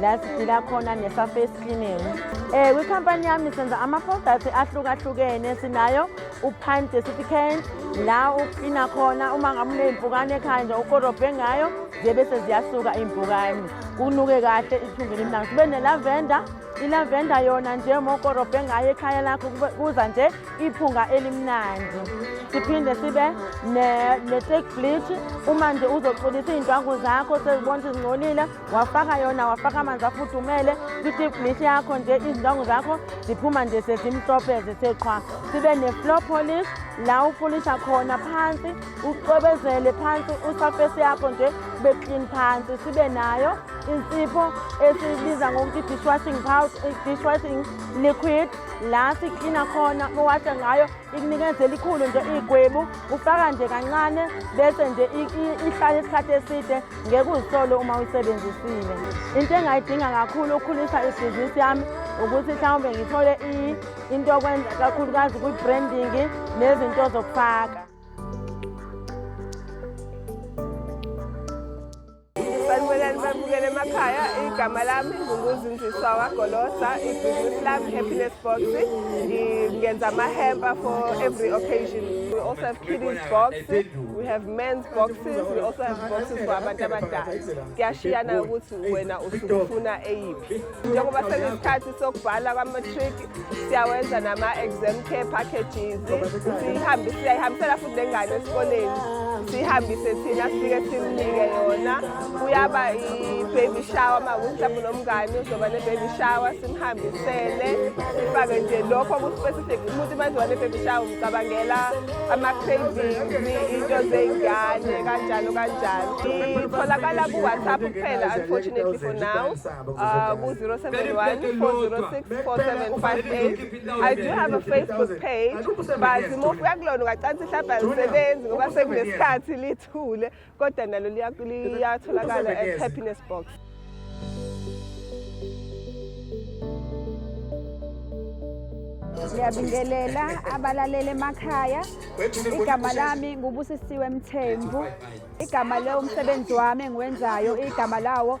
la sidila khona ne-surface cleaning um kwikhampani yami senza ama-products ahlukahlukene sinayo upine desificant la uklina khona uma ngabe uney'mpukane ekhaya nje ukorobhe ngayo zibe seziyasuka iy'mpukane kunuke kahle ithunge limnanga sibe nelavenda ilavenda yona nje uma ukorobhe ngayo ekhaya lakho kuza nje iphunga elimnandi siphinde sibe ne-take bleach uma nje uzoxolisa iy'ndwangu zakho sezibona ukuthi zingcolile wafaka yona wafaka amanzi afudumele kwi-tibdish yakho nje izindongo zakho ziphuma nje sezimhlophe zithe qhwa sibe ne-floor polish la upolisha khona phansi ucwebezele phansi usafesi yakho nje kube clean phansi sibe nayo insipho esibiza ngokuthi dishwashing powder dishwashing liquid la siklina khona uwashe ngayo ikunikeza elikhulu nje igwebu ufaka nje kancane bese nje ihlale isikhathi eside ngeke uzisole uma uyisebenzisile into engayidinga kakhulu ukukhulisa ibhizinisi yami ukuthi mhlawumbe ngithole into okwenza kakhulukazi kwi-branding nezinto zokufaka Sanibonani bamukele emakhaya igama lami ngukuzinziswa wagolosa ibhizinisi lami happiness box ngenza amahempa for every occasion we also have kiddies box we have men's boxes we also have boxes for abantu abadala kuyashiyana ukuthi wena usufuna eyiphi njengoba sekuyisikhathi sokubhala kwamatric siyawenza nama-exam care packages siyihambe siyayihambisela futhi nengane esikoleni siyihambise thina sifike simnike yona kuyaba i-baby shower makuthi mhlawumbe nomngane uzoba ne-baby shower simhambisele sifake nje lokho ku-specific umuntu uma ezoba ne-baby shower umcabangela ama-cravings into zey'ngane kanjalo kanjalo itholakala ku-whatsapp kuphela unfortunately for now uh, ku 0714064758 I do have a Facebook page but mofika kulona ungacansi mhlawumbe alisebenzi ngoba sekunesikhathi lithule kodwa nalo liyatholakala at happiness box ngiyabingelela abalalele emakhaya igama lami ngubusisiwe mthembu igama lewomsebenzi wami engiwenzayo igama lawo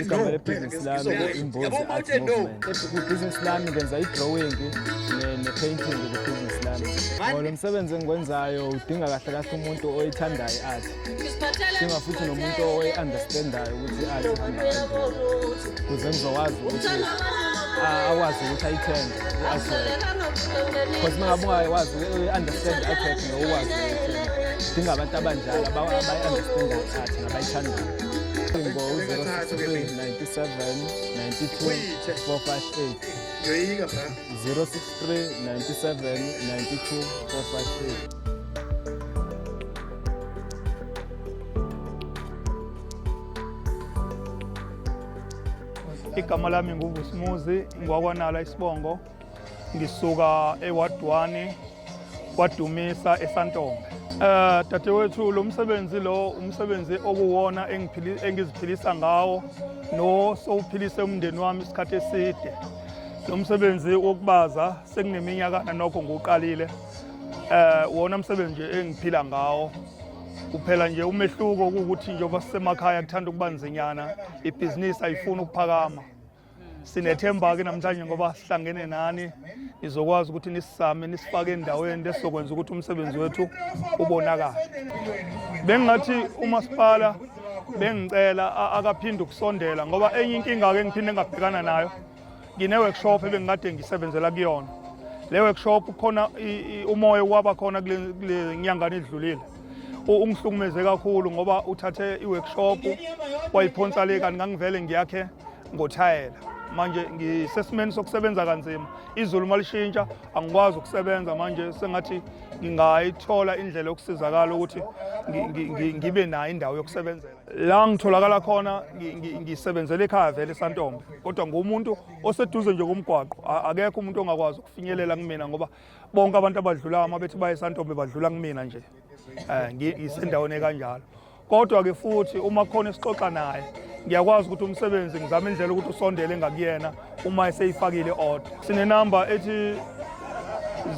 igama lebhizinisi lami imbuzi art movement ibhizinisi lami ngenza i-drawing ne-painting kubhizinisi lami ngoba lo msebenzi engiwenzayo udinga kahle kahle umuntu oyithandayo i-art udinga futhi nomuntu oyi-understandayo ukuthi i-art ihamba kuze ngizokwazi ukuthi awazi ukuthi ayithenge u-artwork because uma ngabe ungawazi u-understand i-artwork ngokwazi ukuthi udinga abantu abanjalo abayi-understandayo i-art nabayithandayo igama lami nguvusimuzi ngwakwanala isibongo ngisuka ewadwane kwadumisa esantombe eh dadewethu lo msebenzi lo umsebenzi okuwona engiziphilisa ngawo no sowuphilise umndeni wami isikhathi eside lo msebenzi wokubaza sekuneminyakana nokho ngiwuqalile eh wona msebenzi nje engiphila ngawo kuphela nje umehluko ukuthi njengoba sisemakhaya kuthanda ukuba nzinyana ibhizinisi ayifuni ukuphakama sinethemba ke namhlanje ngoba sihlangene nani nizokwazi ukuthi nisisame nisifake endaweni lesizokwenza ukuthi umsebenzi wethu ubonakale bengingathi umasipala bengicela akaphinde ukusondela ngoba enye inkinga-ke ngiphinde engabhekana nayo ngine-workshop ebengikade ngisebenzela kuyona le workshop khona umoya waba khona kule nyangana edlulile ungihlukumeze kakhulu ngoba uthathe i-workshop wayiphonsa le kanti ngangivele ngiyakhe ngothayela manje ngisesimeni sokusebenza kanzima izulu uma lishintsha angikwazi ukusebenza manje sengathi ngingayithola indlela yokusizakala ukuthi ngibe nayo indawo yokusebenzela la ngitholakala khona ngisebenzela ekhaya vele santombe kodwa ngumuntu oseduze nje komgwaqo akekho umuntu ongakwazi ukufinyelela kumina ngoba bonke abantu abadlulayo uma bethi baye esantombe badlula kumina nje um ngisendaweni ekanjalo kodwa-ke futhi uma khona esixoxa naye ngiyakwazi ukuthi umsebenzi ngizama indlela ukuthi usondele ngakuyena uma eseyifakile order sinenamba ethi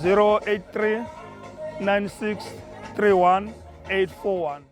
083 9631 841